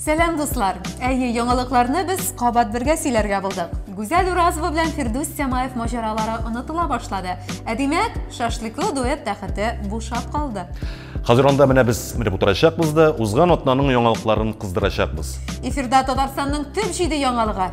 Сәлам дуслар! Әйе, яңалыкларны без кабат бергә сөйләргә булдык. Гүзәл Уразова белән Фирдүс Сямаев маҗаралары онытыла башлады. Ә димәк, шашлыклы дуэт тәхете бушап калды. Хәзер анда менә без менеп утырачакбыз да, узган атнаның яңалыкларын кыздырачакбыз. Эфирда Татарстанның төп җиде яңалыгы.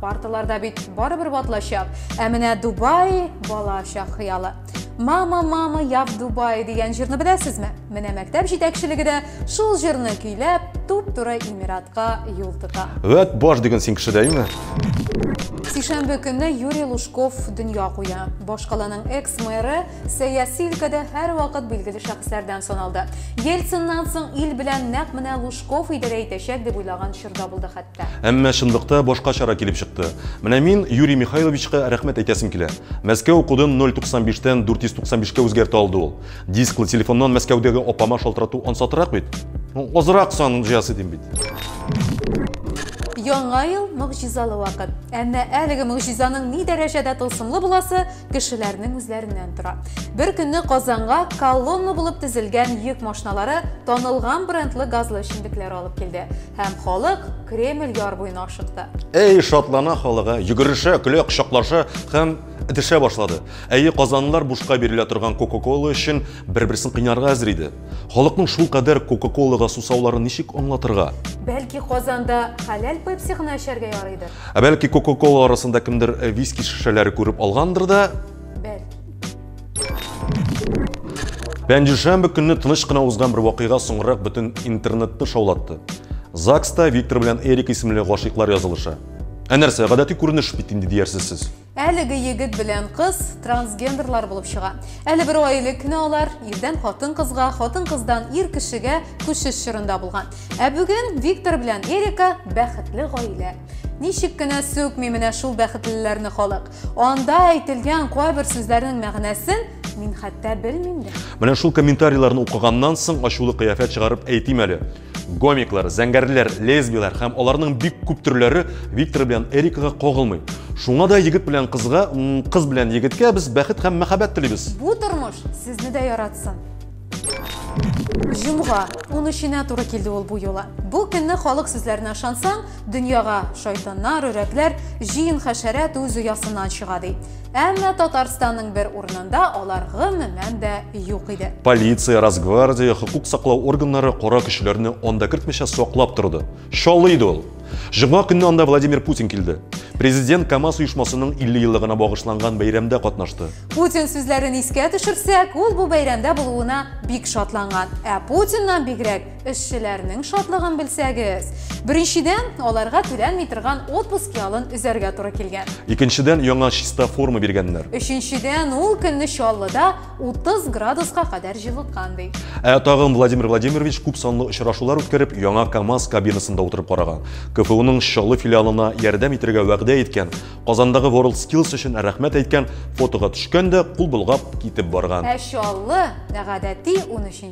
Парталарда бит барыбер ватлачак, ә менә Дубай бала чак хыялы. Мама, мама, я в Дубае дигән җырны беләсезме? Менә мәктәп җитәкчелеге дә шул җырны көйләп, туп-туры Эмиратка юл тота. Вәт баш диген син кеше дәйме? Сишәмбе көнне Юрий Лужков дөнья куя. Башкаланың экс-мэры сәяси өлкәдә һәрвакыт билгеле шәхесләрдән саналды. Ельциннан соң ил белән нәкъ менә Лужков идарә итәчәк дип уйлаган чорда булды хәтта. Әмма чынлыкта башка чара килеп чыкты. Менә мин Юрий Михайловичка рәхмәт әйтәсем килә. Мәскәү кодын 095-тән 495-кә үзгәртә алды ул. Дисклы телефоннан Мәскәүдәге апама шалтырату ансатырак бит. Азрак сан җыясы дим бит. Яңа ел мөгъҗизалы вакыт. Әмма әлеге мөгъҗизаның ни дәрәҗәдә тылсымлы буласы кешеләрнең үзләреннән тора. Бер көнне Казанга колонна булып тезелгән йөк машиналары танылган брендлы газлы эчемлекләр алып килде һәм халык Кремль яр буена ашыкты. Эй, шатлана халыгы, йөгерешә, көлә, кочаклаша һәм дешә башлады. Әйе, казанлылар бушка бирелә торган Кока-Кола өчен бер-берсен кыйнарга әзер иде. Халыкның шул кадәр Кока-Колага сусауларын ничек аңлатырга? Бәлки Казанда хәләл пепси гына эчәргә ярыйдыр? Ә бәлки Кока-Кола арасында кемдер э, виски шешәләре күреп алгандыр да? Бәлки. Пәнҗешәмбе көнне тыныч кына узган бер вакыйга соңрак бөтен интернетны шаулатты. ЗАГСта Виктор белән Эрик исемле гашыйклар язылыша. Ә нәрсә, гадәти күренеш бит инде диярсез сез. Әлеге егет белән кыз трансгендерлар булып чыга. Әле бер ай элек кенә алар ирдән хатын-кызга, хатын-кыздан ир кешегә күчеш чорында булган. Ә бүген Виктор белән Эрика бәхетле гаилә. Ничек кенә сүкми менә шул бәхетлеләрне халык. Анда әйтелгән кайбер сүзләрнең мәгънәсен мин хәтта белмим дә. Менә шул комментарийларны укыганнан соң ачулы кыяфәт чыгарып әйтим әле. Гомиклар, зәңгәрләр, лесбияләр һәм аларның бик күп төрләре Виктор белән Эрикага кагылмый. Шуңа да егет белән кызга, кыз белән егеткә без бәхет һәм мәхәббәт телибез. Бу тормыш сезне дә яратсын. Җомга, 13-нә туры килде ул бу юлы. Бу көнне халык сүзләренә ышансаң, дөньяга шайтаннар, өрәкләр, җыен хәшәрәт үз оясыннан чыга, ди. Әмма Татарстанның бер урынында алар гомумән дә юк иде. Полиция, Росгвардия, хокук саклау органнары кара көчләрне анда кертмичә саклап торды. Шалый иде ул. Җомга көнне анда Владимир Путин килде. Президент КАМАЗ оешмасының 50 еллыгына багышланган бәйрәмдә катнашты. Путин сүзләрен искә төшерсәк, ул бу бәйрәмдә булуына бик шатланган. Ә Путиннан бигрәк Эшчеләрнең шатлыгын белсәгез. Беренчедән, аларга түләнми торган отпуск ялын өзәргә туры килгән. Икенчедән, яңа чиста форма биргәннәр. Өченчедән, ул көнне Чаллыда 30 градуска кадәр җылыткан ди. Ә тагын Владимир Владимирович күп санлы очрашулар үткәреп, яңа КАМАЗ кабинасында утырып караган. КФУның Чаллы филиалына ярдәм итәргә вәгъдә иткән, Казандагы WorldSkills өчен рәхмәт әйткән, фотога төшкән дә, кул болгап китеп барган. Ә Чаллы, гадәти, 13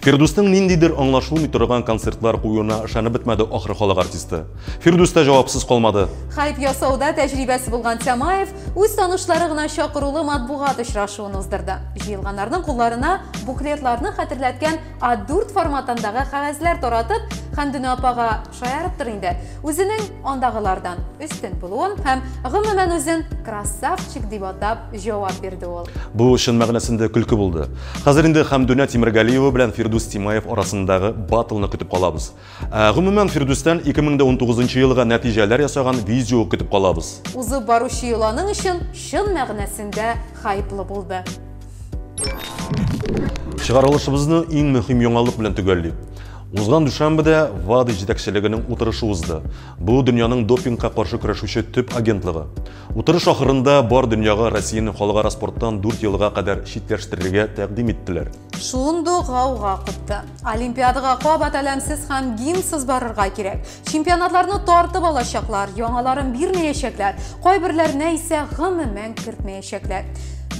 Фирдүснең ниндидер аңлашылмый торган концертлар куюына ышанып бетмәде ахры халык артисты. Фирдүс тә җавапсыз калмады. Хайп ясауда тәҗрибәсе булган Тямаев үз танышлары гына чакырулы матбугат очрашуын уздырды. Җыелганнарның кулларына буклетларны хәтерләткән А4 форматындагы кәгазьләр таратып, Хәмдүнә апага шаярыптыр инде, Үзенең андагылардан өстен булуын һәм гомумән үзен красавчик дип атап җавап бирде ул. Бу чын мәгънәсендә көлке булды. Хәзер инде Хәмдүнә Тимергалиева белән Фирдүс Тимаев арасындагы батлны көтеп калабыз. Ә, гомумән, Фирдүстән 2019 елга нәтиҗәләр ясаган видео көтеп калабыз. Узып баручы йоланың өчен чын мәгънәсендә хайплы булды. Чыгарылышыбызны иң мөһим яңалык белән төгәллик. Узган дүшәмбедә ВАДИ җитәкчелегенең утырышы узды. Бу дөньяның допингка каршы көрәшүче төп агентлыгы. Утырыш ахырында бар дөньяга Россияне халыкара спорттан 4 елга кадәр читләштерергә тәкъдим иттеләр. Шундук гауга купты. Олимпиадага кабат әләмсез һәм гимнсыз барырга кирәк. Чемпионатларны тартып алачаклар, яңаларын бирмәячәкләр, кайберләренә исә гомумән кертмәячәкләр.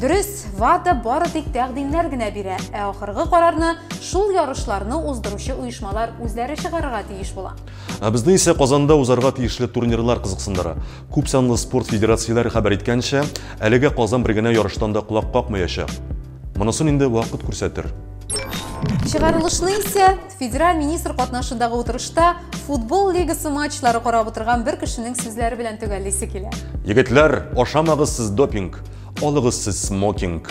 Дөрес, ВАДА бары тик тәкъдимнәр генә бирә, ә ахыргы карарны шул ярышларны уздыручы оешмалар үзләре чыгарырга тиеш була. Ә безне исә Казанда узарга тиешле турнирлар кызыксындыра. Күп санлы спорт федерацияләре хәбәр иткәнчә, әлегә Казан бер генә ярыштан да колак какмаячак. Монысын инде вакыт күрсәтер. Чыгарылышны исә федераль министр катнашындагы утырышта футбол лигасы матчлары карап утырган бер кешенең сүзләре белән төгәллисе килә. Егетләр, ашамагыз сез допинг, алыгыз сез смокинг.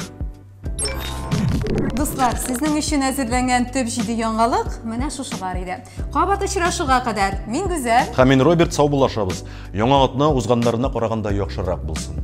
Дуслар, сезнең өчен әзерләнгән төп җиде яңалык менә шушылар иде. Кабат очрашуга кадәр, мин Гүзәл. Һәм мин Роберт, сау булашабыз. Яңа атна узганнарына караганда яхшырак булсын.